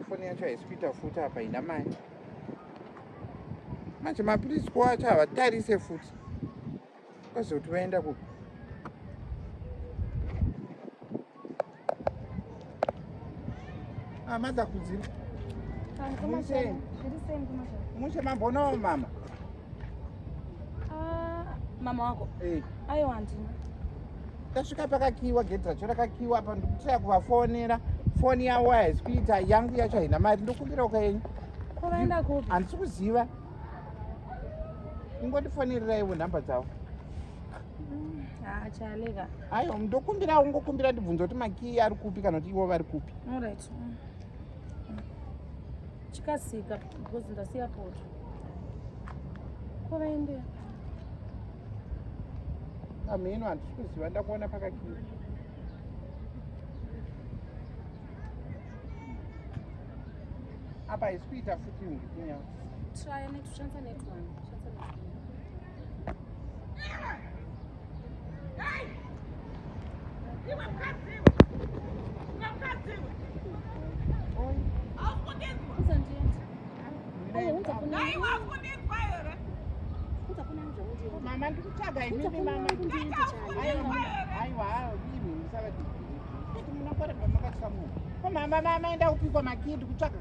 foni yacho haisi kuita futi apa ina mai manje mapiritsi ko acho havatarise futi kwazoti vaenda kupi amadza ah, kudzira mushe mambonawo mama Ah, mama wako hey. ayo handina tasvika pakakiwa gedhi racho rakakiwa apa ndikutaya kuvafonera foni yavo haisi kuita yangu yacho haina mari ndokumbira ukaenyu kwavaenda kupi handisi kuziva ingondifonerera ivo nhamba dzavo achaleka aiwa ndokumbira ungokumbira ndibvunza kuti makii ari kupi kana kuti ivo vari kupi chikasika because ndasiya poto kwavaendea amheno handisi kuziva ndakuona pakakii apa haisi kuita futi ndikunya try netushandisa netone mama ndikutsvaga imimi mama aiwa imi musavati kuti munokoreba makatya munhu ko mama mama enda kupikwa makii ndikutsvaga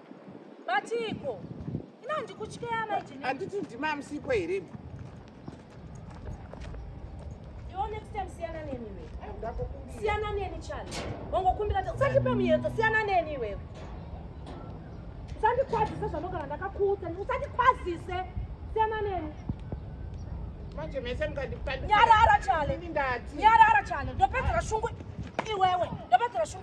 Batiiko? Ina ndikutyeya mai Jenny. Anditi ndima amsipo here? Iwo next time siyana neni iwe. Siyana neni chani. Wangokumbira kuti usandipe muyedzo, siyana neni iwe. Usandikwazise zvanogara ndakakuudza, usandikwazise. Siyana neni. Manje mese mukandipandisa. Nyarara chale. Nyarara chale. Ndopedzera shungu iwewe. Ndopedzera shungu.